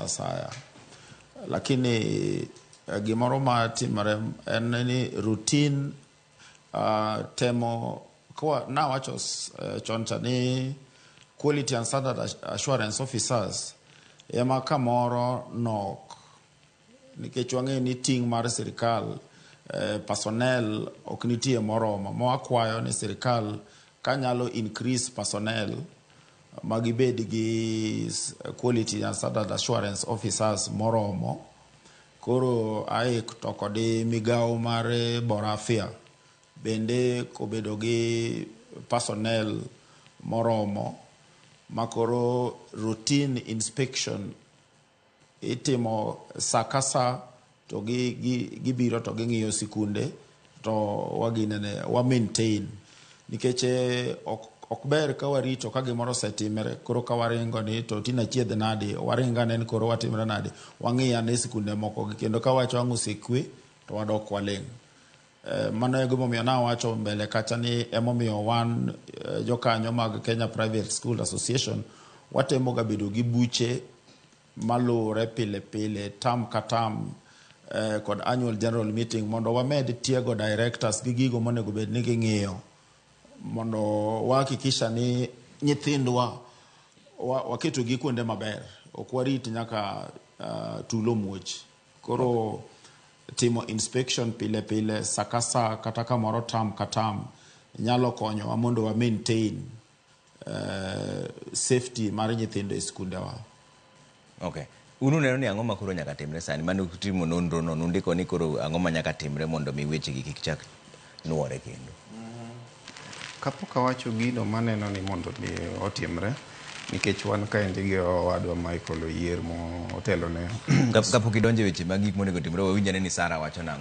asaya. Lakini eh, gimoro ma timore en ni routine uh, temo kwa nawacho s- eh, chon cha ni quality and standard ass- assurance officers ema kamoro nok nikech wang'eyo ni ting' mar sirikal eh, personnel ok nitie moromo ma wakwayo ni sirikal kanyalo increase personnel ma gibed gi quality and standard assurance officers moromo. Koro AIC to kod migao mar Borafia bende kobedo gi personnel moromo makoro routine inspection Itimo sa ka sa to gi, gi, gibiro to ging'iyo sikunde to waginene wa maintain nikech eh, ok, ok ber ka warito ka gimoro osetimre koro ka waringo ni to tinde achiedh nadi waringo ane ni koro watimre nadi wang'iyo ane sikunde mokogi kendo ka wacho ang' osekwe to wadok waling' Eh, mano e gimomiyo nawacho mbele kacha ni emomiyo wan eh, jokanyo mag Kenya Private School Association watemo ga bedo gi buche maluwore pile pile tam ka tam eh, kod annual general meeting mondo wamed tiego directors gi gigo monego bed ni ging'iyo mondo wahakikisha ni nyithindwa waketogi kuonde maber ok warit nyaka uh, tulo muoch Koro timo inspection pile pile saa ka saa kata kamoro term ka term nyalo konyowa mondo wa maintain safety mar nyithindo e skundewa. Okay. Un uneno ni ang'o ma koro nyaka timre sani? Mane utimo nonro no, nundiko ni koro ang'o ma nyaka timre mondo mi weche gi kik chak nwore kendo. Kapok awacho gino maneno ni mondo mi otimre, nikech wan kaendi gi owadwa Michael Oyier motelo ne Kapok idonje weche mag gik monego timre, wawinj ane ni Sara wacho nang'o.